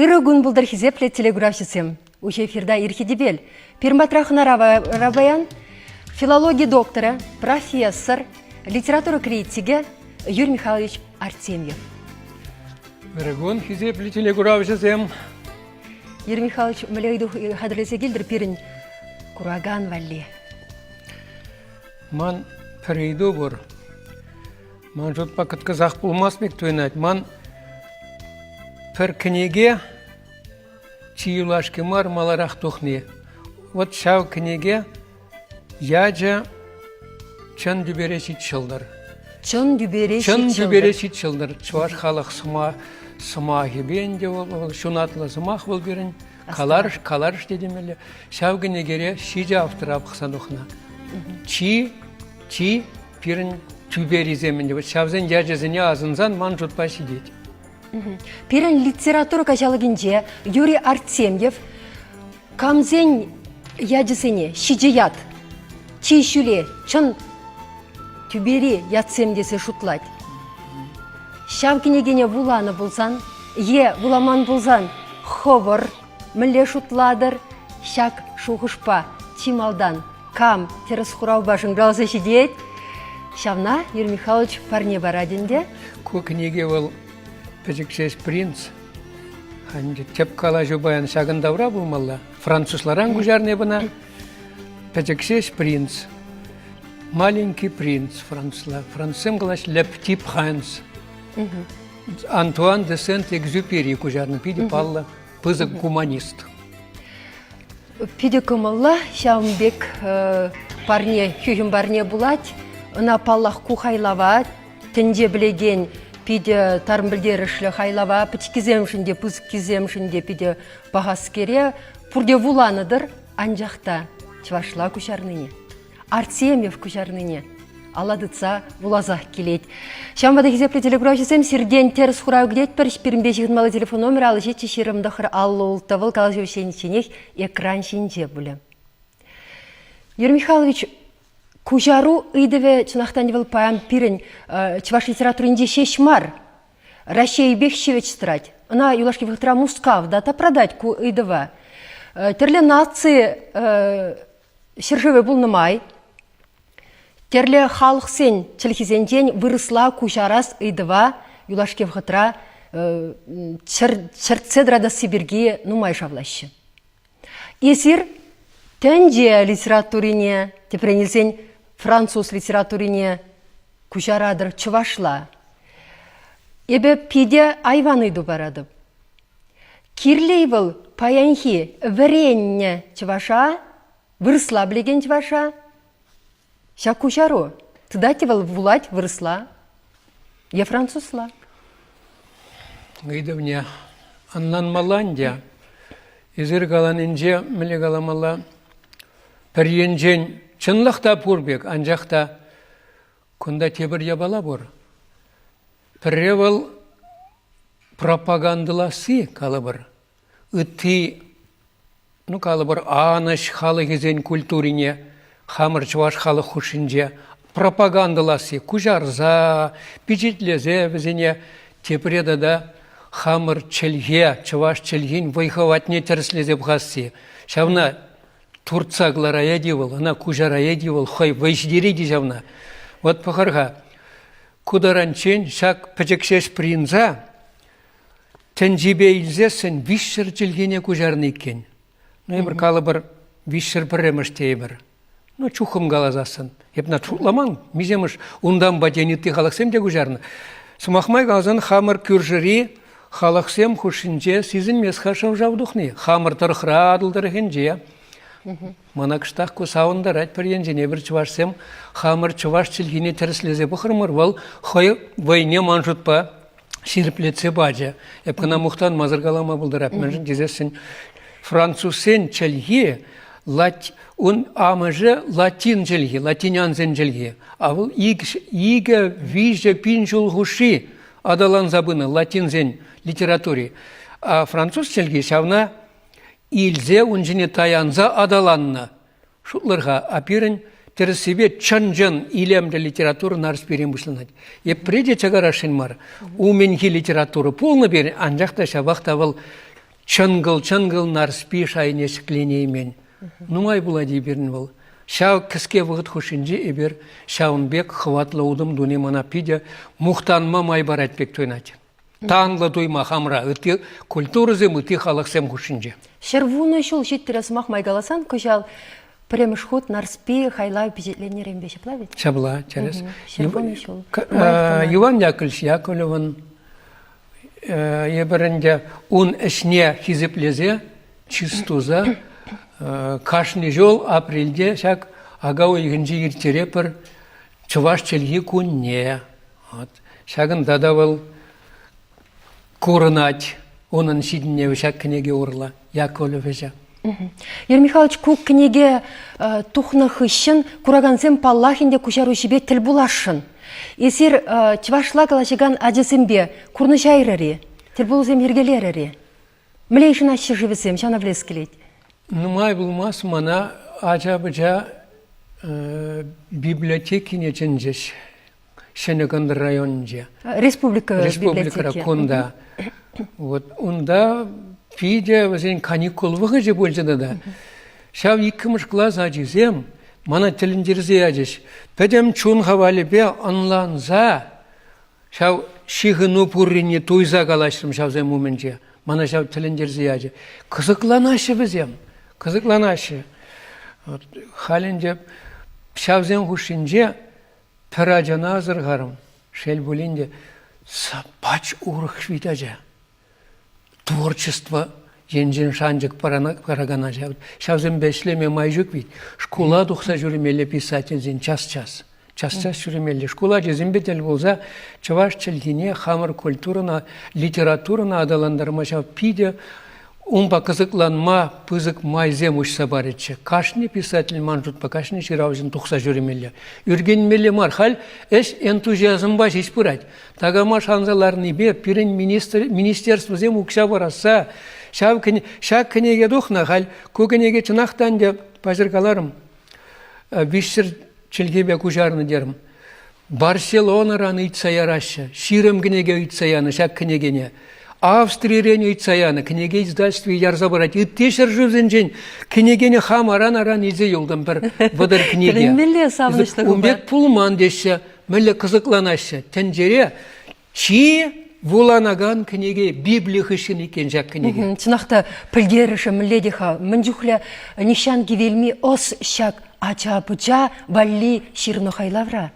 Ырӑ кун пултӑр, хисеплӗ телекуравҫӑсем! Уҫӑ эфирта Ирхи тӗпел. Пирматра хӑнара паян филологи докторӗ, профессор, литература критикӗ Юрий Михайлович Артемьев. Ырӑкун, хисеплӗ телекуравҫӑсем! Юрий Михайлович, мӗнле ыйту хатӗрлесе килтӗр пирӗн куракан валли? Ман пӗр ыйту пур. Ман шутпа кӑткӑсах пулмасть пек туйӑнать. Ман пӗр кӗнеке чи юлашки мар маларах тухни. Вот ҫав кӗнеке ячӗ «Чӑн тӳпере ҫит ҫӑлтӑр». Чӑн тӳпере ҫит ҫӑлтӑр. Чӑн тӳпере ҫит ҫӑлтӑр. Чӑваш халӑх сӑмахӗпе ӗнтӗ вӑл ҫунатлӑ сӑмах вӑл пирӗн. Каларӑш, каларӑш тетӗмелле. Ҫав кӗнекере ҫичӗ автора пӑхса тухнӑ. Чи, чи пирӗн тӳперисем ӗнтӗ. Ҫавсен ячӗсене асӑнсан ман шутпа ҫитет. Пирӗн литература каҫалӑкӗнче Юрий Артемьев камсен ячӗсене ҫичӗ ят Чи ҫӳле, чӑн тӳпери ятсем тесе шутлать. Ҫав кӗнекене вуланӑ пулсан е вуламан пулсан хӑвӑр мӗнле шутлатӑр? Ҫак шухӑшпа чи малтан кам тӗрӗс хуравпа шӑнкӑравса ҫитет, ҫавна Юрий Михайлович парне парать ӗнтӗ. Ку кӗнеке вӑл пӗчӗксес принц. Тӗп калаҫу паян ҫакӑн тавра пулмалла. Французларан куҫарнӑ бына. Пӗчӗксес принц, маленький принц францла. Францсем калаҫ «le petit prince». Антуан де Сент-Экзюпери куҫарнӑ питӗ паллӑ пысӑк гуманист. Питӗ кӑмӑллӑ ҫавӑн пек парне, хӳхӗм парне пулать. Ӑна, паллах, ку хайлава тӗнче пӗлекен питӗ тарӑн пӗлтерӗшлӗ хайлава пӗчӗккисемшӗн те, пысӑккисемшӗн те питӗ Пахаскере пурте вуланӑ-тӑр, анчах та чӑвашла куҫарнине, Артемьев куҫарнине ала тытса вуласах килет. Ҫавӑнпа та хисеплӗ телекуравҫӑсем сиртен тӗрӗс хурав кӗтетпӗр. Пирӗнпе ҫыхӑнмалли телефон номерӗ ал ӗҫетчӗ ҫирӗм тӑхӑр аллӑ улттӑвӑл калаҫу ӗҫченӗчченех экран ҫинче пулӗ. Юрий Михайлович, куҫару ыйтӑвӗ чӑнахтан те вӑл паян пирӗн чӑваш литературинче ҫеҫ мар, Раҫҫейӗпех ҫивӗч тӑрать. Ӑна юлашки вӑхӑтра Мускав та тапратать ку ыйтӑва. Тӗрлӗ наци ҫӗршывӗ пулнӑ май тӗрлӗ халӑхсен чӗлхисенчен вырӑсла куҫарас ыйтӑва юлашки вӑхӑтра чӗртсе тӑратасси пирки нумай шавлаҫҫӗ. Эсир тӗнче литературине, тӗпрен илсен француз литературине куҫаратӑр чӑвашла. Эпӗ питӗ айван ыйту паратӑп. Кирлӗ-и вӑл паянхи вӗреннӗ чӑваша, вырӑсла пӗлекен чӑваша? Ҫак куҫару тытать-и вӑл вулать вырӑсла е французла? Ыйтӑвне ӑнланмалла ӗнтӗ. Эсир каланинче мӗнле каламалла? Пӗр енчен чӑнлах та пур пек, анчах та кунта тепӗр япала пур. Пӗрре вӑл пропагандӑласси калӑпӑр, Ытти, ну калӑпӑр, анӑҫ халӑхӗсен культурине хамӑр чӑваш халӑх хушшинче пропагандӑласси, куҫарса, пичетлесе вӗсене тепре тата хамӑр чӗлхе, чӑваш чӗлхин вӑй-хӑватне тӗрӗслесе пӑхасси, ҫавна туртса кӑлараять-и вӑл, ӑна куҫараять-и вӑл, хӑй вӑй ҫитерет-и ҫавна. Вӑт пӑхар-ха, ку таранччен ҫак пӗчӗк ҫеҫ пӑрӑнса Тӗнчипе илсессӗн виҫҫӗр чӗлхене куҫарнӑ иккен. Ну, эпир калӑпӑр виҫҫӗр пӗрремӗш тейӗпӗр. Ну, чухӑм каласассӑн. Эп на шутламан, миҫемӗш унтанпа тен ытти халӑхсем те куҫарнӑ. Сӑмах май каласан, хамӑр кӳршӗри халӑхсем хушшинче сисӗнмест-ха шӑв-шав тухни. Хамӑр тӑрӑхра, Атӑл тӑрӑхӗнче. Мана кӑштах ку савӑнтарать пӗр енчен. Эпир чӑвашсем хамӑр чӑваш чӗлхине тӗрӗслесе пӑхрӑмӑр. Вӑл хӑй вӑйне ман шутпа ҫирӗплетсе пачӗ. Эп кӑна мухтанмасӑр калама пултарап, мӗншӗн тесессӗн французсен чӗлхи лать, ун амӑшӗ латин чӗлхи, латинянсен чӗлхи. А вӑл икӗ, виҫӗ пин ҫул хушши аталанса пынӑ латинсен литератури. А француз чӗлхи ҫавна илсе ун ҫине таянса аталаннӑ. Шутлӑр-ха, а пирӗн тӗрӗссипе чӑн-чӑн илемлӗ литература Нарспире пирӗн пуҫланать. Йӗпре те чакарасшӑн мар. Умӗнхи литература пулнӑ пирӗн, анчах та ҫапах та вӑл чӑнкӑл-чӑнкӑл Нарспи шайне ҫӗкленеймен. Нумай пулать-и пирӗн вӑл? Ҫав кӗске вӑхӑт хушшинче эпир ҫавӑн пек хӑватлӑ утӑм туни мана питӗ мухтанма май парать пек туйӑнать. Танлӑ туйма хамра ытти культурӑсем, ытти халӑхсем хушшинче. Ҫӗрвунӑ ҫул ҫиттӗре сӑмах май каласан, кӑҫал пӗрремӗш хут Нарспи хайлав пичетленнӗренпе ҫапла вӗт? Ҫапла, тӗрӗс. Ҫӗрвунӑ ҫул. Иван Яковлевич Яковлевӑн эпир ӗнтӗ ун ӗҫне хисеплесе чыс туса кашни ҫул апрельте ҫак ака уйӑхӗнче ирттерепӗр Чӑваш чӗлхи кунне. Ҫакӑнта та вӑл курӑнать. Унӑн ҫитӗнӗвӗ ҫак кӗнеке урлӑ, Яковлевича. Юрий Михайлович, ку кӗнеке тухнӑ хыҫҫӑн куракансем паллах ӗнтӗ куҫаруҫипе тӗл пуласшӑн. Эсир чӑвашла калаҫакан ачасемпе курнӑҫайрӑр-и, тӗлпулусем йӗркелерӗр-и? Мӗнле йышӑнаҫҫӗ-ши вӗсем? Ҫавна пӗлес килет. Нумай пулмасть мана ача-пӑча библиотекине чӗнчӗҫ. Ҫӗнӗ Кӑнтӑр районӗнче. Республика, Республикӑра кунта. Вот унта питӗ вӗсен каникул вӑхӑчӗ пулчӗ тата. Ҫав иккӗмӗш класс ачисем мана тӗлӗнтерсе ячӗҫ. Пӗтӗм чун хавалӗпе ӑнланса ҫав ҫыхӑну пуррине туйса калаҫрӑм ҫавсем умӗнче. Мана ҫав тӗлӗнтерсе ячӗ. Кӑсӑкланаҫҫӗ вӗсем, кӑсӑкланаҫҫӗ. Халь ӗнтӗ ҫавсен хушшинче Пӗр ачана асӑрхарӑм. Шел пулин те, саппач урӑх вит ача. Творчество енчен шанчӑк паракан ача. Ҫавсемпе ӗҫлеме май ҫук вит. Шкула тухса ҫӳремелле писательсен час-час. Час-час ҫӳремелле. Шкул ачисемпе тӗл пулса чӑваш чӗлхине, хамӑр культурӑна, литературӑна аталантарма ҫав питӗ Унпа кӑсӑкланма пысӑк майсем уҫса парӗччӗ. Кашни писатель ман шутпа кашни ҫыравҫӑн тухса ҫӳремелле. Ӳркенмелле мар. Халь ӗҫ энтузиазмпа ҫеҫ пырать. Такама шанса ларнипе пирӗн министерствӑсем укҫа парасса ҫав ҫак кӗнеке тухнӑ. Халь ку кӗнеке чӑнах та ӗнтӗ паҫӑркаларӑм. Виҫсӗр чӗлхепе куҫарнӑ терӗм. Барселонӑран ыйтса яраҫҫӗ. Ҫирӗм кӗнеке ыйтса янӑ ҫак кӗнекене. Австрирен ыйтса янӑ кӗнеке издательстви ярса парать. Ытти ҫӗршывсенчен кӗнекене хам аран-аран илсе юлтӑм пӗр вӑтӑр кӗнеке. Тӗлӗнмелле савӑнӑҫлӑ Кун пек пулман теҫҫӗ. Мӗнле кӑсӑкланаҫҫӗ. Тӗнчере Чи вуланакан кӗнеке Библи хыҫҫӑн иккен ҫак кӗнеке. Чӑнах та пӗлтерӗшӗ мӗнле те-ха? Мӗн чухлӗ нихҫан кивелми ӑс ҫак ача-пӑча валли ҫырнӑ хайлавра?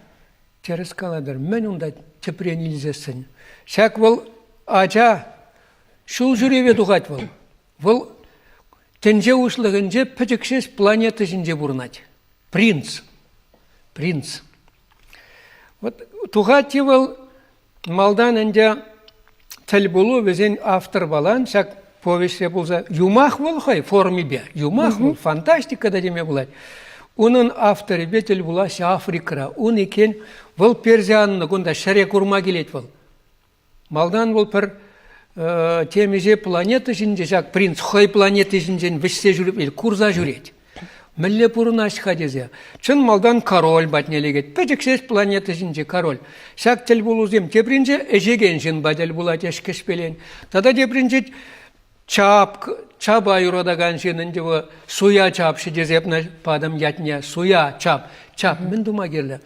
Тӗрӗс калатӑр, мӗн унта тӗпрен илсессӗн? Ҫак вӑл ача ҫул ҫӳреве тухать вӑл. Вӑл тӗнче уҫлӑхӗнче пӗчӗкҫеҫ планета ҫинче пурӑнать. Принц. Принц. Вот тухать-и вӑл малтан ӗнтӗ тӗлпулу вӗсен авторпалан ҫак повеҫре пулса юмах вӑл хӑй формипе юмах вӑл фантастика та теме пулать унӑн авторӗпе тӗл пулаҫҫӗ африкӑра ун иккен вӑл персианнӑ кунта ҫӗре курма килет вӑл Малтан вӑл пӗр темиҫе планета ҫинче ҫак принц хӑй планета ҫинчен вӗҫсе ҫӳрет, курса ҫӳрет. Мӗнле пурӑнать-ха тесе. Чӑн малтан король патне лекет. Пӗчӗксех планета ҫинче король. Ҫак тӗл пулусем тепринче ӗҫекен ҫын патне тӗл пулать ӗҫ кӗҫпелен. Тата тепринче Чапк, чапа юратакан ҫын ӗнтӗ вӑл. Суя чапҫӑ тесе патӑм ятне. Суя, чап. Чап мӗн тума кирлӗ?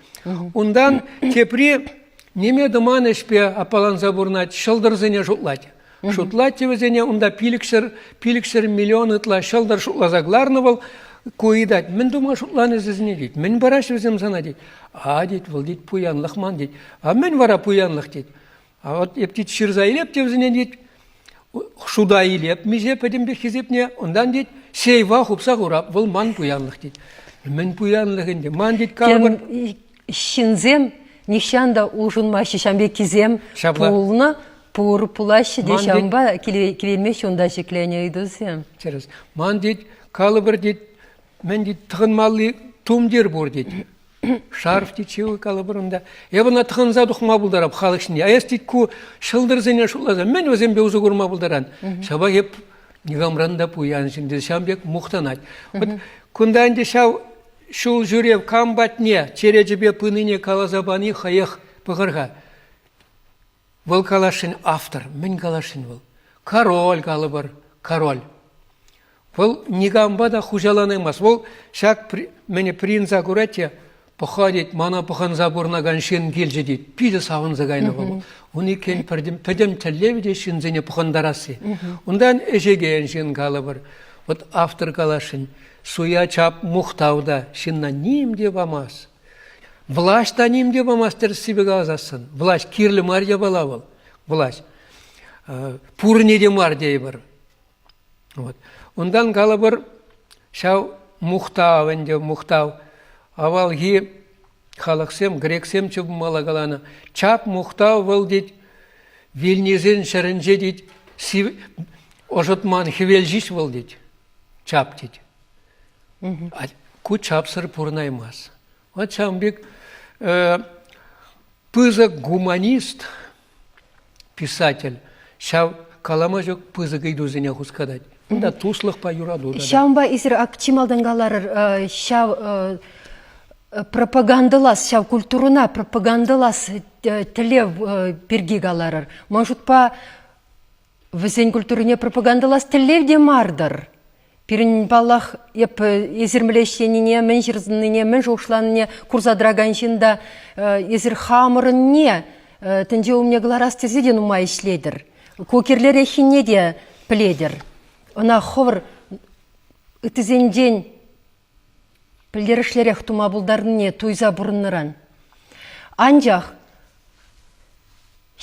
Унтан тепри ниме тӑман ӗҫпе аппаланса пурӑнать, ҫӑлтӑрсене шутлать. Шутлать те вӗсене унта пилӗкҫӗр, пилӗкҫӗр миллион ытла ҫӑлтӑр шутласа кӑларнӑ вӑл. Ку ыйтать, мӗн тума шутланӑ сисӗне тет. Мӗн параҫҫӗ вӗсем сана тет. А тет, вӑл тет пуянлӑх ман тет. А мӗн вара пуянлӑх тет. А вот эп тет ҫырса илеп те вӗсене тет шута илеп миҫе пӗтӗмпех хисепне, унтан тет сейва хупса хурап. Вӑл ман пуянлӑх тет. Мӗн пуянлӑх ӗнтӗ? Ман тет калӑпӑр. Ҫынсем нихҫан та улшӑнмаҫҫӗ, ҫам пеккисем пулнӑ пур пулаҫҫӗ те ҫампа килеймеҫҫӗ унта ҫӗкленӗ ыйтусем. Тӗрӗс. Ман тет калӑпӑр тет Мӗн тет, тӑхӑнмалли тумтир пур тет. Шарф тет, ҫывӑх калӑпӑрӑн та. Эпӗ ӑна тӑхӑнса тухма пултарап халӑх ҫине. А эс тет ку ҫӑлтӑрсене шутласа мӗн вӗсемпе усӑ курма пултаран? Ҫапах эп никамран та пуян ҫын тесе ҫавӑн пек мухтанать. Вот кунта ӗнтӗ ҫав ҫул ҫӳрев кам патне черечӗпе пынине каласа пани хӑех пӑхӑр-ха. Вӑл каласшӑн автор. Мӗн каласшӑн вӑл? Король калӑпӑр, король. Вӑл никампа та хуҫаланаймасть. Вӑл ҫак мӗне принца курать те, пӑха тет, мана пӑхӑнса пурӑнакан ҫын килчӗ тет. Питӗ савӑнса кайнӑ вӑл. Ун иккен пӗтӗм, пӗтӗм тӗллевӗ те ҫынсене пӑхӑнтарасси. Унтан ӗҫекен ҫын калӑпӑр. Вот автор каласшӑн, суя чап мухтав та ҫынна ним те памасть. Влаҫ та ним те памасть тӗрӗссипе каласассӑн. Влаҫ кирлӗ мар япала вӑл. Влаҫ. Пурне те мар тейӗпӗр. Вот. Унтан калӑпӑр, ҫав мухтав ӗнтӗ, мухтав. Авалхи халӑхсем, грексем чупмалла каланӑ. Чап мухтав вӑл тет, вилнисен ҫӗрӗнче тет, ӑшӑтман хӗвел ҫеҫ вӑл тет. чап тет. Ку чапсӑр пурӑнаймасть. Вот ҫавӑн пек пысӑк гуманист, писатель ҫав калама ҫук пысӑк ыйтусене хускатать. Унта туслӑхпа юрату та. Ҫавӑнпа эсир чи малтан каларӑр ҫав пропагандӑлас, ҫав культурӑна пропагандӑлас тӗллев пирки каларӑр. Ман шутпа, Вӗсен культурине пропагандӑлас тӗллев те мар-тӑр. Пирӗн, паллах, эп эсир мӗн ӗҫленине, мӗн ҫырӑннине, мӗн шухӑшланине курса тӑракан ҫын та эсир хамӑрӑнне тӗнче умне кӑларас тесе те нумай ӗҫлетӗр. Ку кирлӗреххине те пӗлетӗр. Ӑна хӑвӑр ыттисенчен пӗлтерӗшлӗрех тума пултарнине туйса пурӑннӑран. Анчах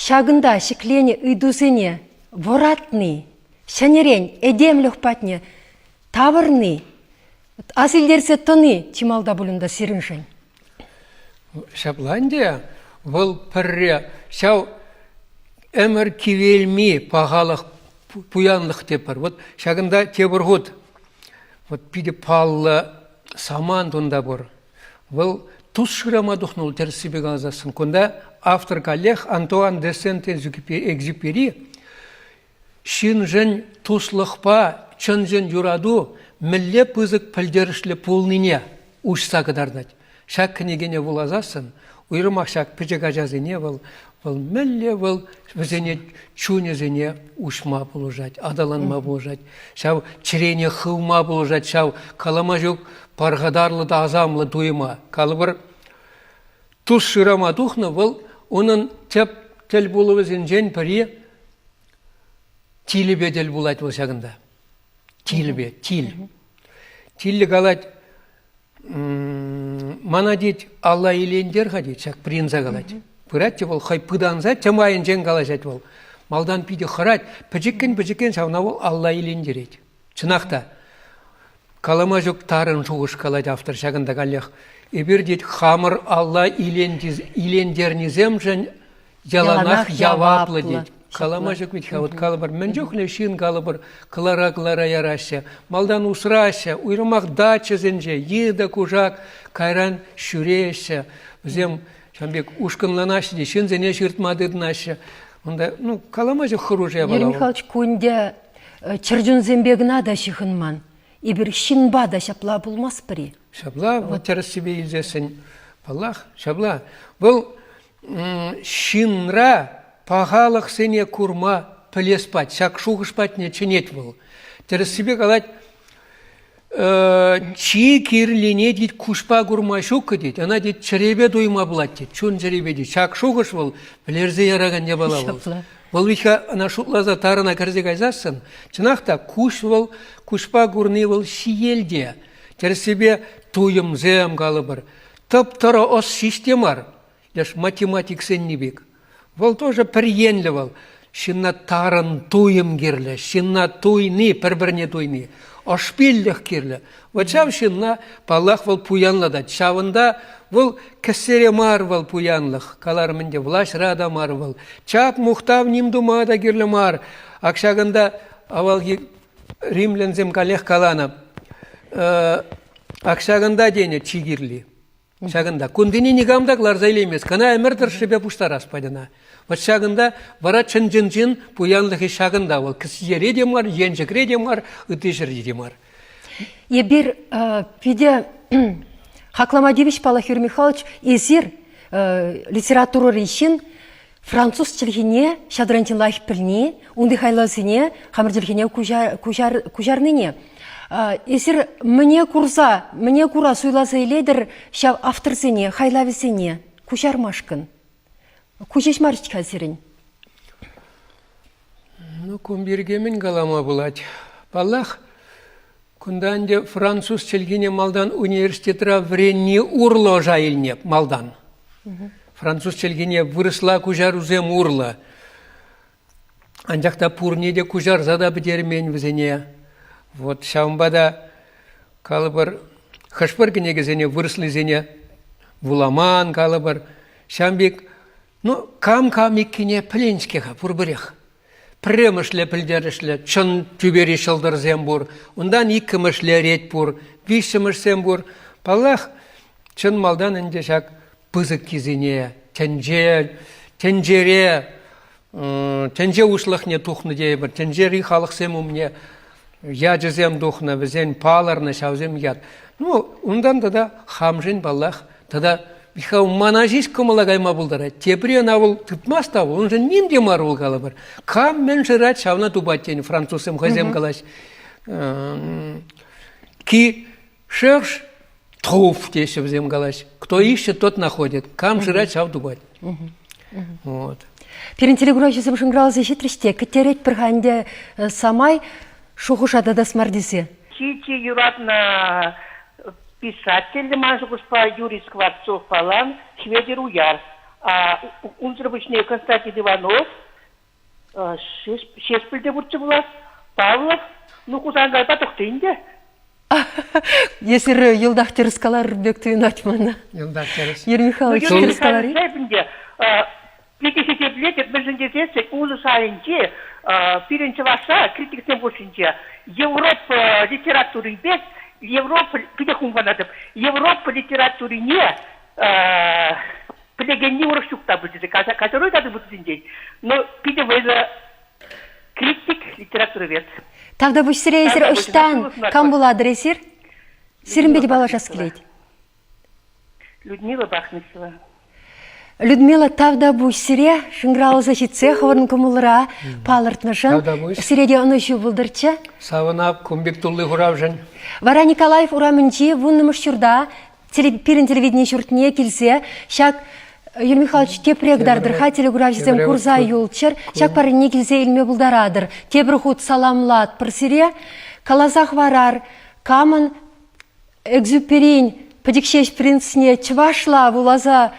ҫакӑнта ҫӗкленӗ ыйтусене вӑратни, ҫӗнӗрен этемлӗх патне тавӑрни, асилтерсе тӑни чи малта пуль унта сирӗншӗн. Ҫапла ӗнтӗ, вӑл пӗрре ҫав ӗмӗр кивелми пахалӑх, пуянлӑх тетпӗр. Вот ҫакӑнта тепӗр хут вот питӗ паллӑ самант унта пур. Вӑл тус шырама тухнӑ вӑл тӗрӗссипе каласан. Кунта автор каллех Антуан де Сент-Экзюпери Ҫыншӑн туслӑхпа чӑн-чӑн юрату мӗнле пысӑк пӗлтерӗшлӗ пулнине уҫса кӑтартать. Ҫак кӗнекене вуласассӑн уйрӑмах ҫак пӗчӗк ачасене вӑл, вӑл мӗнле вӑл вӗсене чунӗсене уҫма пулӑшать, аталанма пулӑшать, ҫав чӗрене хывма пулӑшать, ҫав калама ҫук пархатарлӑ та асамлӑ туйӑма. Калӑпӑр, Тус шырама тухнӑ вӑл унӑн тӗп тӗл пулӑвӗсенчен пӗри тилӗпе тӗл пулать вӑл ҫакӑнта. Тилӗпе, тил. Тилӗ калать, мана тет, алла илентер-ха тет, ҫак принца калать. Пырать те вӑл хӑй пытанса тем айӗнчен калаҫать вӑл. Малтан питӗ хӑрать, пӗчӗккӗн-пӗчӗккӗн ҫавна вӑл алла илентерет. Чӑнах та, калама ҫук тарӑн шухӑш калать автор ҫакӑнта каллех. Эпир, тет, хамӑр алла илентернисемшӗн яланах яваплӑ, тет. Калама ҫук вӗт-ха, вот калӑпӑр, мӗн чухлӗ ҫын калӑпӑр, кӑлара-кӑлара яраҫҫӗ, малтан усраҫҫӗ, уйрӑмах дачӑсенче йытӑ, кушак, кайран ҫӳреҫҫӗ. Вӗсем ҫавӑн пек ушкӑнланаҫҫӗ те ҫынсене ҫыртма тытӑнаҫҫӗ. Унта, ну, калама ҫук хӑрушӑ япала. Юрий Михайлович, кун те чӗрчунсемпе кӑна та ҫыхӑнман. Эпир ҫынпа та ҫапла пулмастпӑр-и? Ҫапла, вот тӗрӗссипе илсессӗн, паллах, ҫапла. Вӑл ҫынра пахалӑхсене курма пӗлес пат, ҫак шухӑш патне чӗнет вӑл. Тӗрӗссипе калать, чи кирлине тет куҫпа курма ҫуккӑ тет ӑна тет чӗрепе туйма пулать тет чун-чӗрепе тет ҫак шухӑш вӑл вӗлерсе яракан япала вӑл вӑл витха ӑна шутласа тарӑна кӗрсе кайсассӑн чӑнах та куҫ вӑл куҫпа курни вӑл ҫиелте тӗрӗссипе туйӑмсем калӑпӑр тӑп-тӑрӑ ӑс ҫеҫ те мар Леш математиксенни пек. Вӑл тоже пӗр енлӗ вӑл. Ҫынна тарӑн туйӑм кирлӗ, ҫынна туйни, пӗр-пӗрне туйни. Ӑшпиллӗх кирлӗ. Вот ҫав ҫынна, паллах, вӑл пуянлатать. Ҫавӑнта вӑл кӗсере мар вӑл пуянлӑх. Каларӑм ӗнтӗ, влаҫра та мар вӑл. Чак мухтав ним тума та кирлӗ мар. Ак ҫакӑнта авалхи римлянсем каллех каланӑ. Ак ҫакӑнта тенӗ чи кирли. Ҫакӑнта кунтине никам та кӑларса илеймест. Кӑна ӗмӗр тӑршшӗпе пуҫтарас патьӑна. Вӑт ҫакӑнта вара чӑн-чӑн чин пуянлӑхӗ ҫакӑнта вӑл. Кӗсьере те мар, енчӗкре те мар, ытти ҫӗрте те мар. Эпир питӗ хаклама тивӗҫ, Паллахир Михайлович, эсир литературӑри ҫын, Француз чӗлхине ҫадринчен лайӑх пӗлни, унти хайлавсене хамӑр чӗлхене куҫар, куҫарнине, эсир мӗне курса, мӗне кура суйласа илетӗр ҫав авторсене, хайлавӗсене куҫармашкӑн? Ку ҫеҫ мар-ҫке-ха сирӗн. Ну, кун пирки мӗн калама пулать? Паллах, Кунта ӗнтӗ француз чӗлхине малтан университетра вӗренни урлӑ ӑша илнӗ малтан. Француз чӗлхине вырӑсла куҫарусем урлӑ. Анчах та пурне те куҫарса та пӗтермен вӗсене. Вот ҫавӑнпа та калӑпӑр хӑш-пӗр кӗнекесене вырӑслисене вуламан калӑпӑр. Ҫавӑн пек ну кам-кам иккине пӗлен-ҫке-ха пурпӗрех. Пӗрремӗшле пӗлтерӗшлӗ чӑн тӳпери ҫӑлтӑрсем пур, унтан иккӗмӗшле рет пур, виҫҫӗмӗшсем пур. Паллах, чӑн малтан ӗнтӗ ҫак пысӑккисене тӗнче, тӗнчере тӗнче уҫлӑхне тухнӑ тейӗпӗр, тӗнчери халӑхсем умне ячӗсем тухнӑ, вӗсен палӑрнӑ ҫавсем ят. Ну, унтан тата хамшин паллах тата Михаил мана ҫеҫ кӑмӑла кайма пултарать. Тепри ӑна вӑл тытмас та, уншӑн ним те мар вӑл калӑпӑр. Кам мӗн шырать, ҫавна тупать тенӗ французсем хӑйсем калаҫ. Ки шӑрш Тов, теҫҫӗ вӗсем калаҫ. Кто ищет, тот находит. Кам шырать, ҫав тупать. Вот. Пирӗн телеграфҫӑсем шӑнкӑравласа ҫитрӗҫ те, кӗтеретпӗр-ха ӗнтӗ э, самай шухӑша татас мар тесе. Чи чи юратнӑ писатель ман шухӑшпа Юрий Скворцов палан Хветӗр Уяр. А унсӑр пуҫне Константин Иванов Ҫеҫпӗл те пурччӗ пулас, Павлов, ну Хусангайпа тухтӑ ӗнтӗ. Если йӑлтах тӗрӗс каларӑр пек туйӑнать мана. Йӑлтах тӗрӗс. Ир Михайлович тӗрӗс калар-и? Питӗ хисеплетӗп, мӗншӗн тесен улӑ шайӗнче пирӗн чӑвашра критиксем хушшинче Европа литературин пек Европа питӗ хумханатӑп Европа литературине пӗлекенни урӑх ҫук та путинче категори та путинчен но питӗ вӑйлӑ критик литературовед тавтапуҫ сире эсир ӑҫтан кам пулатӑр эсир сирӗн пете паллашас килет Людмила Бахмисова Людмила Тавтапуҫ сире шӑнкӑравласа ҫитсе хӑвӑрӑн кӑмӑлра палӑртнӑшӑн сире те ӑнӑҫу пултӑрччӗ савӑнап кун пек тулли хуравшӑн вара николаев урамӗнчи вуннӑмӗш ҫурта пирӗн телевидени ҫуртне килсе ҫак Юрий Михайлович тепре кӑтартӑр-ха телекуравҫӑсем курса юлччӑр, ҫак парне килсе илме пултаратӑр. Тепӗр хут саламлатпӑр сире, каласа хӑварар камӑн экзюперин пӗчӗкҫеҫ принцне чӑвашла вуласа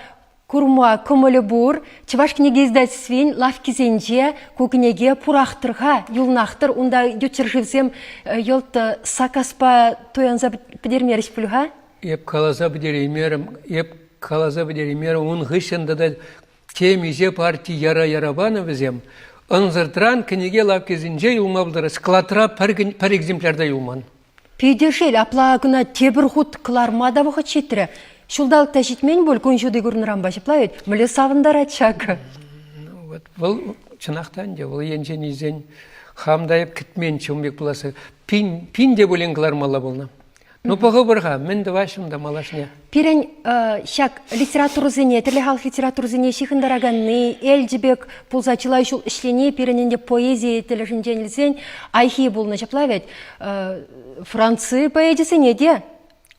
Курма кӑмӑлӗ пур, Чӑваш кӗнеке издательствин лавккисенче ку кӗнеке пурах-тӑр-ха, юлнах-тӑр. Унта ют ҫӗршывсем йӑлт саккаспа туянса пӗтермерӗҫ пуль-ха? Эп каласа пӗтереймерӗм, эп каласа пӗтереймерӗм. Ун хыҫҫӑн тата темиҫе парти яра-яра панӑ вӗсем. Ӑнсӑртран кӗнеке лавккисенче юлма пултарать. Складра пӗр, пӗр экземплярта юлман. Питӗ шел, апла кӑна тепӗр хут кӑларма та вӑхӑт ҫитрӗ. Ҫулталӑк та ҫитмен пуль, кун ҫути курнӑранпа ҫапла вӗт, мӗнле савӑнтарать ҫакӑ. Вот вӑл чӑнах та ӗнтӗ, вӑл енчен илсен хам та эп кӗтменччӗ ун пек пуласса. Пин, пин те пулин кӑлармалла пулнӑ. Ну, пӑхӑпӑр-ха, мӗн тӑваҫҫӗ унта малашне. Пирӗн ҫак литературӑсене, тӗрлӗ халӑх литературӑсене ҫыхӑнтараканни, Элчӗ пек пулса чылай ҫул ӗҫлени пирӗн ӗнтӗ поэзи тӗлӗшӗнчен илсен айхи пулнӑ. Ҫапла вӗт, Франци поэчӗсене те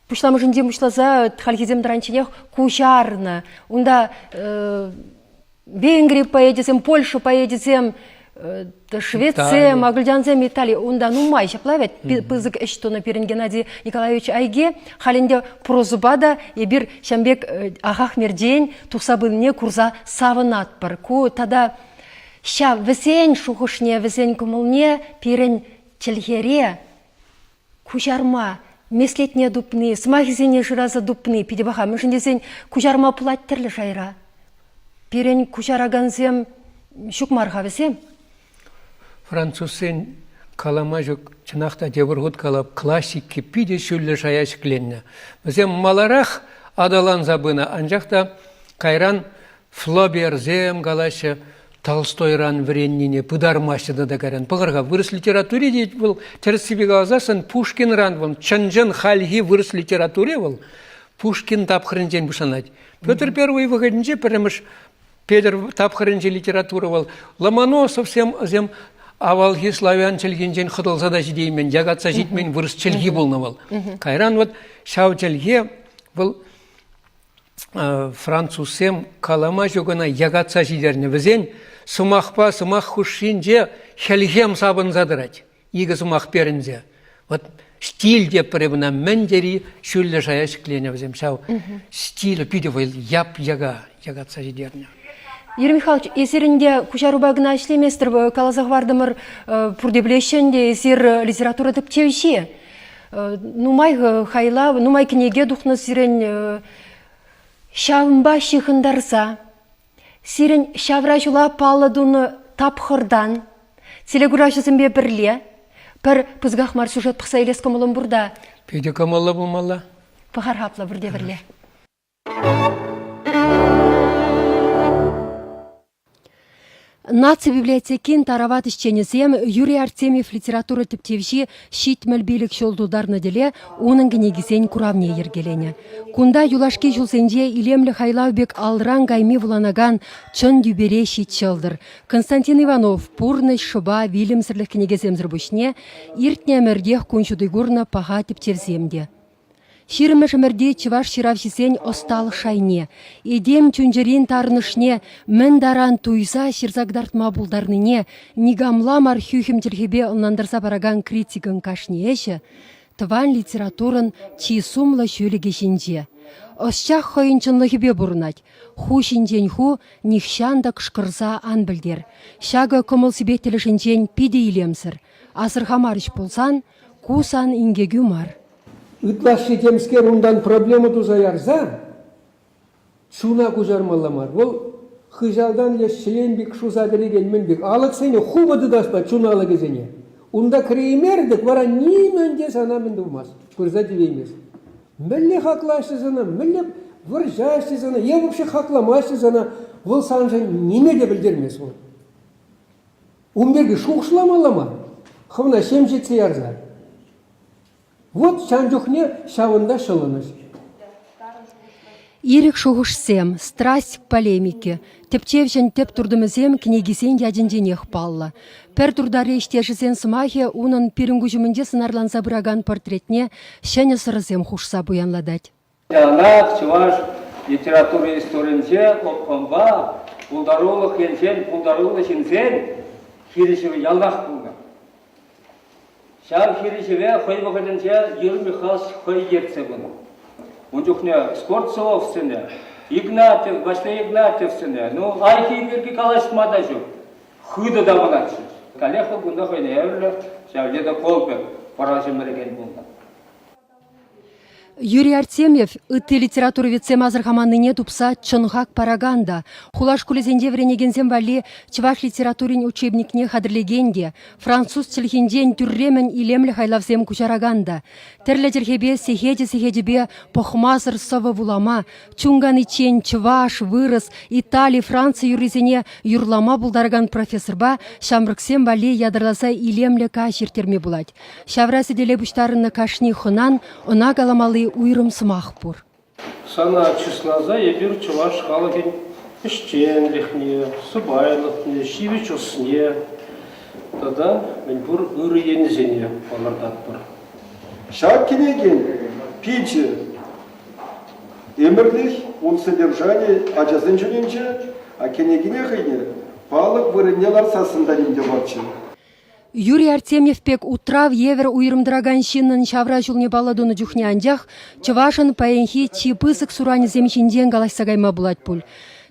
пуҫламӑшӗнчен пуҫласа хальхисем тӑранчченех куҫарнӑ. Унта Венгри поэчӗсем, Польша поэчӗсем, шведсем, агульдянсем, Итали унта нумай ҫапла вӗт пысӑк ӗҫ тунӑ пирӗн Геннадий Николаевич Айге. Халь ӗнтӗ прозӑпа та эпир ҫам пек ахах мерчен тухса пынине курса савӑнатпӑр. Ку тата ҫав вӗсен шухӑшне, вӗсен кӑмӑлне пирӗн чӗлхере куҫарма меслетне тупни, сӑмахӗсене шыраса тупни питӗ паха, мӗншӗн тесен куҫарма пулать тӗрлӗ шайра. Пирӗн куҫаракансем ҫук мар-ха вӗсем. Французсен калама ҫук, чӑнах та тепӗр хут калап, классики питӗ ҫӳллӗ шая ҫӗкленнӗ. Вӗсем маларах аталанса пынӑ, анчах та кайран Флоберсем калаҫҫӗ, Толстойран вӗреннине пытармаҫҫӗ тата кайран. Пӑхӑр-ха, вырӑс литератури тет вӑл, тӗрӗссипе каласан, Пушкинран вӑл, чӑн-чӑн хальхи вырӑс литератури вӑл, Пушкин тапхӑрӗнчен пуҫланать. Петр I вӑхӑтӗнче пӗрремӗш Петр тапхӑрӗнчи литература вӑл Ломоносовсем вӗсем авалхи славян чӗлхинчен хӑтӑлса та ҫитеймен, якатса ҫитмен вырӑс чӗлхи пулнӑ вӑл. Кайран вот ҫав чӗлхе вӑл французсем калама ҫук ӑна якатса ҫитернӗ. Вӗсен сӑмахпа сӑмах хушшинче хӗлхем сапӑнса тӑрать. Икӗ сӑмах перӗнсе. Вот стиль те пӗрре мына мӗн тери ҫӳллӗ шая ҫӗкленӗ вӗсем. Ҫав стиль питӗ вӑл яп-яка якатса ҫитернӗ. Юрий Михайлович, эсирӗн те куҫарупа кӑна ӗҫлеместӗр. Каласа хӑвартӑмӑр, пурте пӗлеҫҫӗ ӗнтӗ, эсир литература тӗпчевҫи. Нумай хайлав, нумай кӗнеке тухнӑ сирӗн ҫавӑнпа ҫыхӑнтарса. Сирӗн ҫавра ҫула паллӑ тунӑ тапхӑртан телекуравҫӑсемпе пӗрле пӗр пысӑках мар сюжет пӑхса илес кӑмӑлӑм пур та. Питӗ кӑмӑллӑ пулмалла. Пӑхар хаплӑ пурте пӗрле. Наци библиотекин тарават ӗҫченӗсем Юрий Артемьев литература тӗпчевҫи ҫитмӗл пилӗк ҫул тутарнӑ тӗле унӑн кӗнекисен куравне йӗркеленӗ. Кунта юлашки ҫулсенче илемлӗ хайлав пек алран кайми вуланакан чӑн тӳпере ҫит ҫӑлтӑр. Константин Иванов пурнӑҫ, шӑпа, вилӗмсӗрлӗх кӗнекесемсӗр пуҫне иртнӗ ӗмӗртех кун ҫути курнӑ паха тӗпчевсем те. Ҫирӗммӗш ӗмӗрти чӑваш ҫыравҫисен ӑсталӑх шайне, этем чун-чӗрин тарӑнӑшне мӗн таран туйса ҫырса кӑтартма пултарнине никамла мар хӳхӗм чӗлхепе ӑнлантарса паракан критикӑн кашни ӗҫӗ тӑван литературӑн чи сумлӑ ҫӳлӗкӗ ҫинче. Ӑсчах хӑйӗн чӑнлӑхӗпе пурӑнать, ху ҫинчен ху нихҫан та кӑшкӑрса ан пӗлтер. Ҫакӑ кӑмӑл-сипет тӗлӗшӗнчен питӗ илемсӗр. Асӑрхамарӗҫ пулсан, Ку сан инкекӳ мар. Ытлашши темскер унтан проблема туса ярса чуна куҫармалла мар. Вӑл хыҫалтан леш ҫӗлен пек шуса кӗрекен мӗн пек алӑксене хупӑ тытаспа чун алӑкӗсене. Унта кӗреймерӗ вара нимӗн те сана мӗн тумасть, пырса тивеймест. Мӗнле хаклаҫҫӗ сана, мӗнле вӑрҫаҫҫӗ сана, е вообще хакламаҫҫӗ сана, вӑл саншӑн ниме те пӗлтермест вӑл. Ун пирки шухӑшламалла мар, хӑвна ҫем ҫитсе ярса. Вот ҫан чухне ҫавӑнта ҫӑлӑнӑҫ. Ирӗк шухӑшсем, страсть полемики, тӗпчевҫӗн тӗп туртӑмӗсем кӗнекисен ячӗнченех паллӑ. Пӗр туртари ӗҫтешӗсен сӑмахӗ унӑн пирӗн куҫ умӗнче сӑнарланса пыракан портретне ҫӗнӗ сӑрӑсем хушса пуянлатать. Яланах чӑваш литератури историйӗнче опкӑнпа пултарулӑх енчен пултаруллӑ ҫынсен хирӗҫӗвӗ ялтах пулнӑ. Ҫав хирӗҫӗве хӑй вӑхӑтӗнче Юрий Михайлович хӑй ертсе пынӑ. Ун чухне Скворцовсене, Игнатьев, Ваҫлей Игнатьевсене, ну, архив пирки калаҫма та ҫук, хытӑ тапӑнатчӗҫ. Каллех кунта хӑйне евӗрлӗ ҫав Ледокол пек пӑрачӗ мӗрекен пулнӑ. Юрий Артемьев ытти литературоведсем асӑрхаманнине тупса чӑн хак паракан та, хула шкулӗсенче вӗренекенсем валли чӑваш литературин учебникне хатӗрлекен те, француз чӗлхинчен тӳрремӗн илемлӗ хайлавсем куҫаракан та, тӗрлӗ чӗлхепе сехечӗ-сехечӗпе пӑхмасӑр сӑвӑ вулама, чун каниччен чӑваш, вырӑс, итали, франци юррисене юрлама пултаракан профессорпа ҫамрӑксем валли ятарласа илемлӗ каҫ ирттерме пулать. Ҫавра сӗтеле пуҫтарӑннӑ кашни хӑнан ӑна каламалли уйрӑм сӑмах пур. Сана чысласа эпир чӑваш халӑхӗн ӗҫченлӗхне, сӑпайлӑхне, ҫивӗч ӑсне тата мӗнпур ырӑ енӗсене палӑртатпӑр. Ҫак кӗнекен пичӗ ӗмӗрлӗх ун содержанийӗ ачасен чунӗнче, а кӗнекене хӑйне палӑк вырӑнне лартсассӑн та нимте марччӗ. Юрий Артемьев пек утрав евӗр уйрӑм тӑракан ҫыннӑн ҫавра ҫулне паллӑ тунӑ чухне анчах чӑвашӑн паянхи чи пысӑк суранӗсем ҫинчен калаҫса кайма пулать пуль.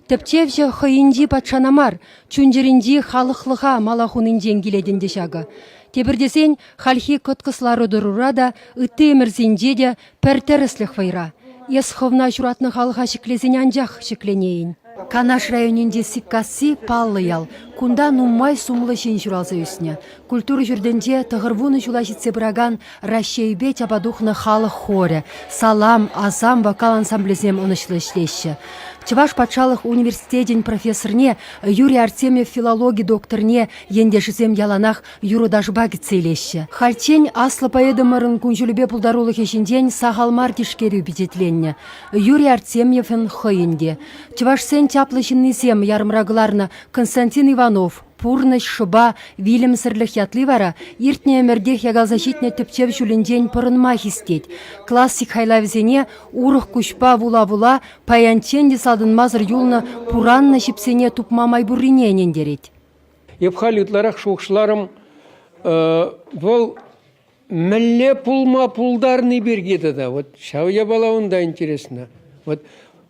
Тӗпчевҫӗ хӑйӗнчи патшана мар, чун-чӗринчи халӑхлӑха мала хунинчен килет ӗнтӗ ҫакӑ. Тепӗр тесен, хальхи кӑткӑс лару-тӑрура та, ытти ӗмӗрсенче те Пӗр тӗрӗслӗх вӑйра. Эс хӑвна ҫуратнӑ халӑха ҫӗклесен анчах ҫӗкленейӗн. Канаш районӗнчи Сиккасси паллӑ ял. Кунта нумай сумлӑ ҫын ҫуралса ӳснӗ. Культура ҫуртӗнче тӑхӑр вунӑ ҫула ҫитсе пыракан Раҫҫейпе тяпа тухнӑ халӑх хорӗ, салам, асам вокал ансамблӗсем ӑнӑҫлӑ ӗҫлеҫҫӗ. Чӑваш патшалӑх университечӗн профессорне, Юрий Артемьев филологи докторне ентешӗсем яланах юрӑ-ташпа кӗтсе илеҫҫӗ. Хальччен аслӑ поэтӑмӑрӑн кун-ҫулӗпе пултарулӑхӗ ҫинчен сахал мар тишкерӳ пичетленнӗ. Юрий Артемьевӑн хӑйӗн те. Чӑвашсен чаплӑ ҫыннисем ярӑмра кӑларнӑ Константин Иванов «Пурнӑҫ, шӑпа, вилӗмсӗрлӗх» ятли вара иртнӗ ӗмӗртех якалса ҫитнӗ тӗпчев ҫулӗнчен пӑрӑнма хистет. Классик хайлавӗсене урӑх куҫпа вула-вула паянччен те салтӑнмасӑр юлнӑ пураннӑ ҫипсене тупма май пуррине ӗнентерет. Эп халь ытларах шухӑшларӑм, вӑл мӗнле пулма пултарни пирки тата. Вот ҫав япала унта интересно. Вот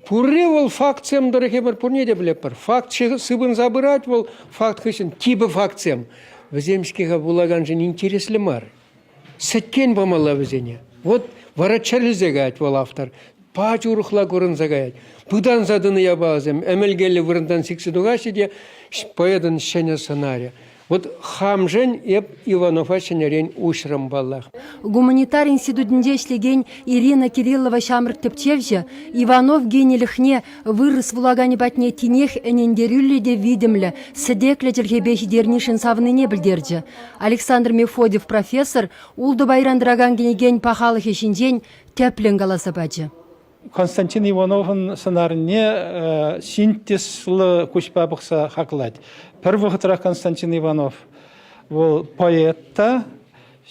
пурри вӑл фактсем тӑрӑх эпир пурне те пӗлетпӗр. Факт сыпӑнса пырать вӑл факт хыҫҫӑн типӗ фактсем. Вӗсем-ҫке пулаканшӑн интереслӗ мар. Сӗткен памалла вӗсене. Вот вара чӗрлесе каять вӑл автор. Пач урӑхла курӑнса каять. Пытанса тӑнӑ япаласем ӗмӗлкеллӗ вырӑнтан сиксе тухаҫҫӗ те поэтӑн ҫӗнӗ сӑнарӗ. Вот хамшен эп Иванова ҫӗнӗрен уҫрӑм паллах. Гуманитар институтӗнче ӗҫлекен Ирина Кириллова ҫамрӑк тӗпчевҫӗ Иванов генилӗхне Вырӑс вулаканӗ патне тинех ӗнентерӳллӗ те витӗмлӗ, сӗтеклӗ чӗлхепе ҫитернишӗн савнине пӗлтерчӗ. Александр Мефодьев профессор ултӑ пайран тӑракан кӗнекен пахалӑхӗ ҫинчен тӗплӗн каласа пачӗ. Константин Ивановӑн сӑнарне синтезлӑ куҫпа пӑхса хаклать. Пӗр вӑхӑтрах Константин Иванов вӑл поэт та,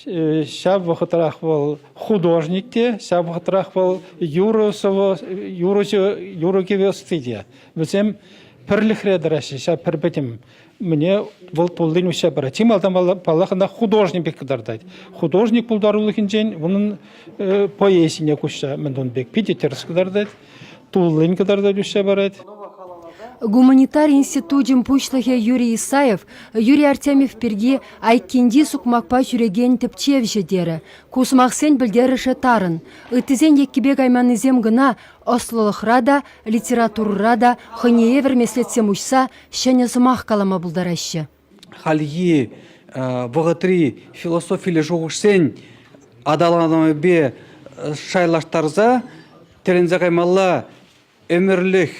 Ҫав вӑхӑтрах вӑл художник те, ҫав вӑхӑтрах вӑл юрӑ-кӗвӗ ӑсти те. Вӗсем пӗрлӗхре тӑраҫҫӗ, ҫав пӗр пӗтӗм. Мне вӑл туллин уҫса парать. Чи малтан, паллах, ӑна художник пек кӑтартать. Художник пултарулӑхӗнчен унӑн поэзине куҫса мӗн тун пек питӗ тӗрӗс кӑтартать. туллин кӑтартать уҫса парать. Гуманитар институчӗн пуҫлӑхӗ Юрий Исаев Юрий Артемьев пирки айккинчи сукмакпа ҫӳрекен тӗпчевҫӗ терӗ. Ку сӑмахсен пӗлтерӗшӗ тарӑн. Ыттисен еккипе кайманнисем кӑна ӑслӑлӑхра та, литературӑра та хӑйне евӗр меслетсем уҫса ҫӗнӗ сӑмах калама пултараҫҫӗ. хальхи вӑхӑтри философиллӗ шухӑшсен аталанӑвӗпе шайлаштарса тӗлӗнсе каймалла ӗмӗрлӗх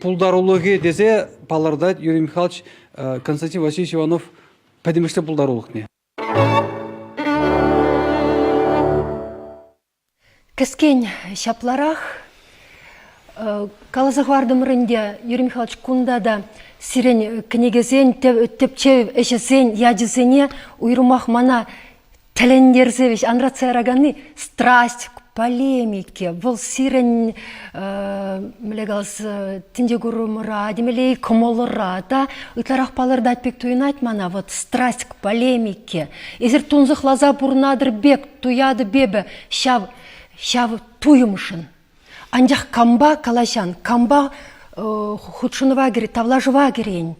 пултарулӑхӗ тесе палӑртать Юрий Михайлович Константин Васильевич Иванов пӗтӗмӗшле пултарулӑхне. Кӗскен ҫапларах. Каласа хӑвартӑмӑр ӗнтӗ, Юрий Михайлович, кунта та сирӗн кӗнекесен, тӗпчев ӗҫӗсен ячӗсене уйрӑмах мана тӗлӗнтерсе вӗҫ анратса яраканни страсть к полемике. Вӑл сирӗн, мӗнле калас, тӗнче курӑмӑра, темелле кӑмӑлӑра та ытларах палӑртать пек туйӑнать мана. Вот страсть к полемике. Эсир тунсӑхласа пурӑнатӑр пек туятӑп эпӗ ҫав, ҫав туйӑмшӑн. Анчах кампа калаҫан, кампа э, хутшӑнӑва кӗрет, тавлашӑва кӗрен,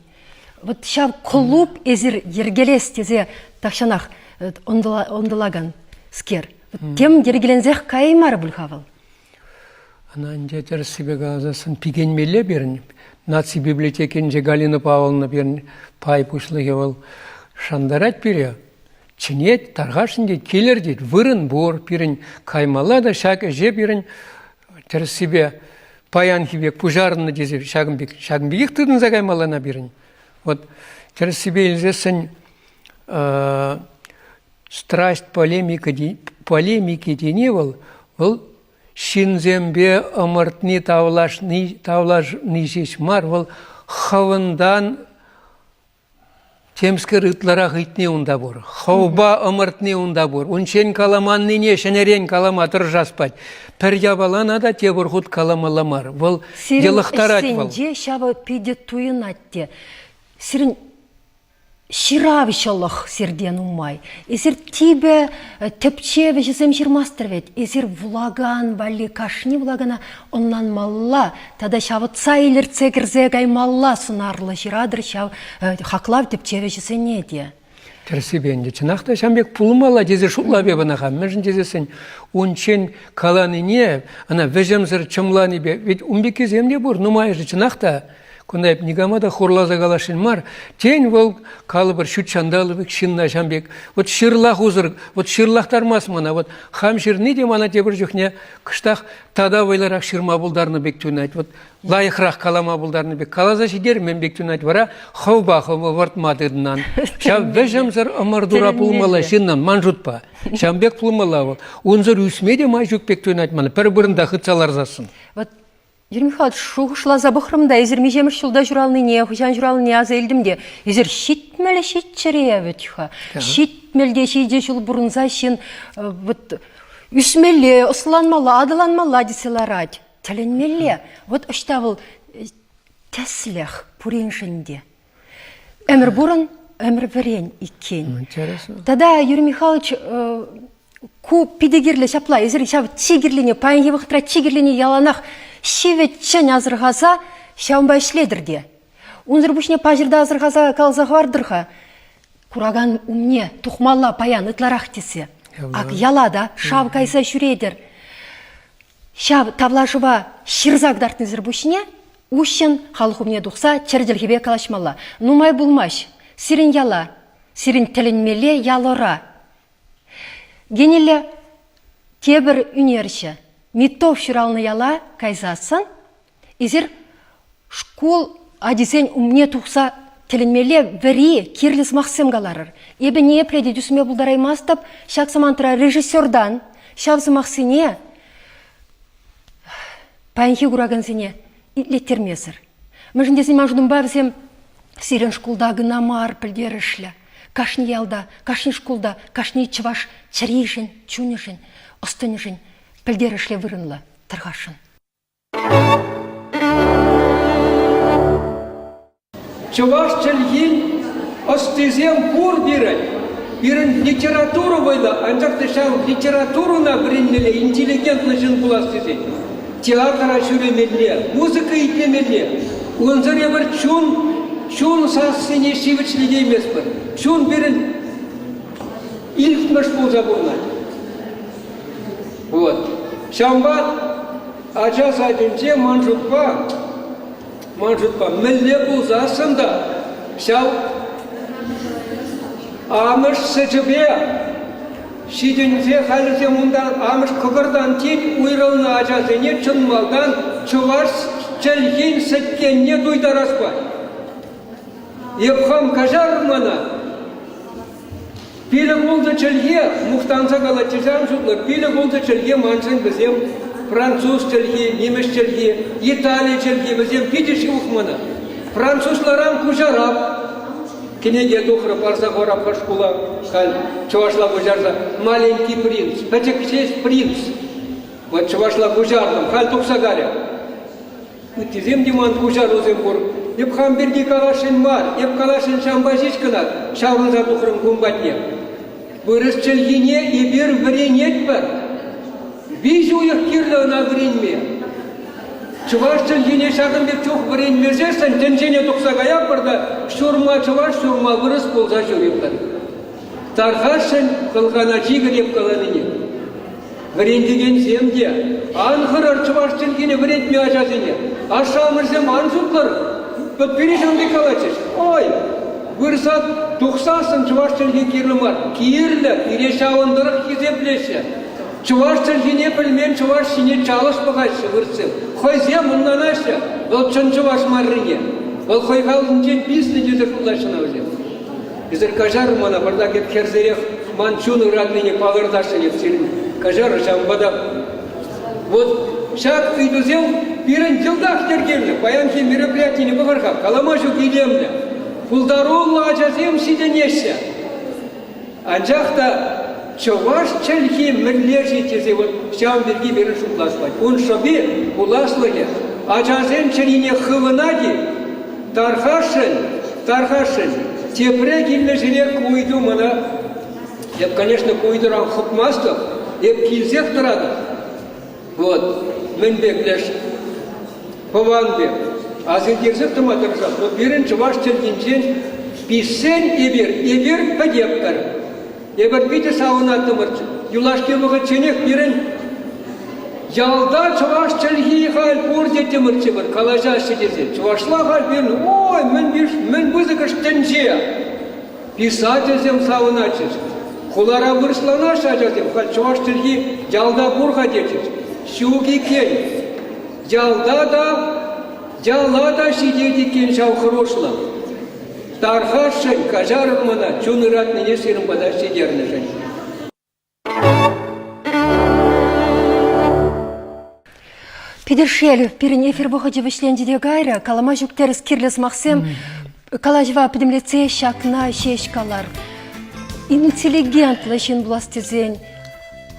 вот ҫав клуб эсир йӗркелес тесе тахҫанах э, ӑнтӑлаканскер, тем йӗркеленсех каяймарӗ пуль-ха вӑл. Ӑна ӗнтӗ тӗрӗссипе каласассӑн пикенмелле пирӗн. Наци библиотекинче Галина Павловна пирӗн пай пуҫлӑхӗ вӑл шантарать пире. чӗнет, тархасшӑн тет, килӗр тет, вырӑн пур пирӗн, каймалла та ҫак ӗҫе пирӗн тӗрӗссипе паянхи пек пуҫарӑннӑ тесе ҫакӑн, пек, ҫакӑн пекех тытӑнса каймалла на пирӗн. Вот тӗрӗссипе илсессӗн страсть полемики, полемики тени вӑл, вӑл ҫынсемпе ӑмӑртни, тавлашни, тавлашни ҫеҫ мар, вӑл хӑвӑнтан Темскер ытларах ыйтни унта пур. Хӑвпа ӑмӑртни унта пур. Унччен каламаннине ҫӗнӗрен калама тӑрӑшас пать. Пӗр япалана та тепӗр хут каламалла мар. Вӑл йӑлӑхтарать вӑл. Сирӗн ӗҫсенче ҫавӑ питӗ туйӑнать те. Сирӗн ҫыравҫӑлӑх сиртен нумай. Эсир типӗ тӗпчев ӗҫӗсем ҫырмастӑр вӗт. Эсир вулакан валли кашни вулакана ӑнланмалла Тата ҫавӑтса илӗртсе кӗрсе каймалла сунарлӑ ҫыратӑр ҫав хаклав тӗпчевҫӗсене те. Тӗрӗссипе ӗнтӗ чӑнах та ҫам пек пулмалла тесе шутлап эп ӑна хам. Мӗншӗн тесессӗн унччен каланине ӑна вӗҫӗмсӗр чӑмланипе ведь ун пеккисем те пур нумайӑшӗ чӑнах та кунта эп никама та хурласа каласшӑн мар тен вӑл калӑпӑр ҫут ҫанталӑк пек ҫынна ҫам пек вот ҫырлах усӑр вот ҫырлахтармасть мана вот хам ҫырни те мана тепӗр чухне кӑштах тата вӑйлӑрах ҫырма пултарнӑ пек туйӑнать. Вот лайӑхрах калама пултарнӑ пек каласа ҫитермен пек туйӑнать вара хӑвпа хӑвӑ выртма тытнан. Ҫав вӗҫӗмсӗр ӑмӑртура пулмалла ҫыннӑн, ман шутпа. Ҫавӑн пек пулмалла вӑл. Унсӑр ӳсме те май ҫук пек туйӑнать ман. Пӗр вырӑнта хытса ларсассӑн. Вот Юрий Михайлович, шухӑшласа пӑхрӑм та эсир миҫемӗш ҫулта ҫуралнине, хӑҫан ҫуралнине аса илтӗм те, эсир ҫитмӗл ҫиччӗре вӗт-ха. Ҫитмӗл те ҫичӗ ҫул пурӑнса ҫын вот Ӳсмелле, ӑсланмалла, аталанмалла тесе ларать. Тӗлӗнмелле. Вот ӑҫта вӑл тӗслӗх пуриншӗн те. Ӗмӗр пурӑн, ӗмӗр вӗрен иккен. Интересно. Тата Юрий Михайлович ку питӗ кирлӗ ҫапла. Эсир ҫав чи кирлине, паянхи вӑхӑтра чи кирлине яланах ҫивӗччӗн асӑрхаса ҫавӑнпа ӗҫлетӗр те. Унсӑр пуҫне паҫӑрта асӑрхаса каласа хӑвартӑр-ха. куракан умне тухмалла паян ытларах тесе. Ак яла та шав кайса ҫӳретӗр. Ҫав тавлашӑва ҫырса кӑтартнисӗр пуҫне уҫҫӑн халӑх умне тухса чӗр чӗлхепе калаҫмалла. Нумай пулмасть сирӗн яла, сирӗн тӗлӗнмелле ял-ора. Генилле тепӗр ӳнерҫӗ Митов ҫуралнӑ яла кайсассӑн Эсир шкул ачисен умне тухса тӗлӗнмелле вӗри, кирлӗ сӑмахсем каларӑр. Эпӗ ниепле те тӳсме пултараймастӑп ҫак самантра режиссертан ҫав сӑмахсене паянхи куракансене итлеттермесӗр. Мӗншӗн тесен ман шутӑмпа вӗсем сирӗн шкулта кӑна мар пӗлтерӗшлӗ. Кашни ялта, кашни шкулта, кашни чӑваш чӗришӗн, чунӗшӗн, ӑс-тӑнӗшӗн пӗлтерӗшлӗ вырӑнлӑ тӑрхасшӑн. Чӑваш чӗлхин ӑстисем пур пирӗн. Пирӗн литература вӑйлӑ, анчах та ҫав литературӑна вӗренмелле, интеллигентлӑ ҫын пулас тесен театра ҫӳремелле, музыка итлемелле. Унсӑр эпир чун, чун сассине ҫивӗчлетейместпӗр. Чун пирӗн илтмӗш пулса пурӑнать. Вот. Ҫавӑнпа ача садӗнче ман шутпа, ман шутпа мӗнле пулсассӑн та ҫав амӑш сӗчӗпе ҫитӗнсе хальлӗхе унтан амӑш кӑкӑртан тин уйрӑлнӑ ачасене чӑн малтан чӑваш чӗлхин сӗткенне туйтарас пай. Эп хам каҫарӑр мана. Пилӗк-ултӑ чӗлхе мухтанса калатчӗҫам шутлӑ. Пилӗк-ултӑ чӗлхе маншӑн вӗсем француз чӗлхи, нимӗҫ чӗлхи, итали чӗлхи вӗсем питӗ-ши ухмана. Французларан куҫарап кӗнеке тухрӑ, парса хурап хӑш шкула, халь чӑвашла куҫарса. Маленький принц, пӗчӗк ҫеҫ принц. Вот чӑвашла куҫартӑм, халь тухса карӗ. Ыттисем те ман куҫарусем пур. Эп хам пирки каласшӑн мар, эп каласшӑн ҫампа ҫеҫ кӑна ҫаврӑнса тухрӑм кун патне. Вырӑс чӗлхине эпир вӗренетпӗр. Виҫӗ уйӑх кирлӗ ӑна вӗренме. Чӑваш чӗлхине ҫакӑн пек чух вӗренмесессӗн тӗнчене тухса каятпӑр та ҫурма чӑваш, ҫурма вырӑс пулса ҫӳретпӗр. Тархасшӑн кӑлкана чикӗ эп каланине. Вӗрентекенсем те ан хӑрӑр чӑваш чӗлхине вӗрентме ачасене. Ашшӗ-амӑшӗсем ан суккӑр. Вот пире ҫавӑн калатчӗҫ. Ой, вырса тухсассӑн чӑваш чӗлхи кирлӗ мар. Кирлӗ, пире ҫавӑн тӑрӑх хисеплеҫҫӗ. Чӑваш чӗлхине пӗлмен чӑваш ҫине чалӑш пӑхаҫҫӗ выртсем. Хӑйсем ӑнланаҫҫӗ вӑл чӑн чӑваш маррине. Вӑл хӑй халӑхӗнчен писнӗ тесе шутлаҫҫӗ ӑна вӗсем. Эсир каҫар мана пӑртак эп хӗрсерех ман чун ыратнине палӑртасшӑн эп сирӗн. Каҫар ҫавӑнпа та. Вот ҫак ыйтусем пирӗн йӑлтах йӗркелнӗ. Паянхи мероприятине пӑхӑр-ха, калама ҫук илемлӗ. Пултаруллӑ ачасем ҫитӗнеҫҫӗ. Анчах та Чӑваш чӗлхи мӗнле-ши тесе вӑл ҫавӑн пирки пирӗн шутлас пулать. Ун шӑпи, пуласлӑхӗ ачасен чӗрине хывӑнать-и? Тархасшӑн, тархасшӑн. Тепре килнӗ ҫӗре ку ыйту мана, эп, конечно, ку ыйтуран хӑпмастӑп, эп килсех тӑратӑп. Вот, мӗн пек леш пӑван пек. Асилтерсех тӑма тӑрӑшат, но пирӗн чӑваш чӗлхинчен пиҫсен эпир, эпир пӗтеппӗр. Эпир питӗ савӑнаттӑмӑрччӗ. Юлашки вӑхӑтченех пирӗн ялта чӑваш чӗлхи халь пур теттӗмӗрччӗ пӗр калаҫаҫҫӗ тесе. Чӑвашла халь пирӗн ой мӗн мӗн пысӑкӑш тӗнче. Писательсем савӑнатчӗҫ. Хулара вырӑсланаҫҫӗ ачасем, халь чӑваш чӗлхи ялта пур-ха тетчӗҫ. Ҫук иккен. Ялта та, яла та ҫитет иккен ҫав хӑрушлӑх. Тархасшӑн, каҫарӑп мана чун ыратнине сирӗн пата ҫитернӗшӗн. Питӗр шел, пирӗн эфир вӑхӑчӗ вӗҫленчӗ те кайрӗ. Калама ҫук тӗрӗс кирлӗ сӑмахсем калаҫӑва пӗтӗмлетсе ҫакна ҫеҫ калар. Интеллигентлӑ ҫын пулас тесен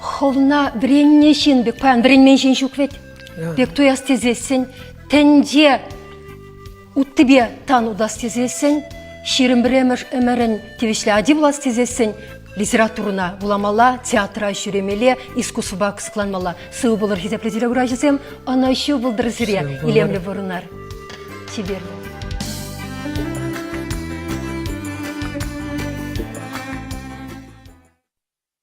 хӑвна вӗреннӗ ҫын пек паян вӗренмен ҫын ҫук вӗт. Пек туяс тесессӗн тӗнче Уттипе тан утас тесессӗн, ҫирӗм пӗрремӗш ӗмӗрӗн тивӗҫлӗ ати пулас тесессӗн литературӑна вуламалла, театра ҫӳремелле, искусствӑпа кӑсӑкланмалла. Сывӑ пулӑр хисеплӗ телегурачӑсем, ӑнӑҫу пултӑр сире, илемлӗ пурӑнар. Чиперли.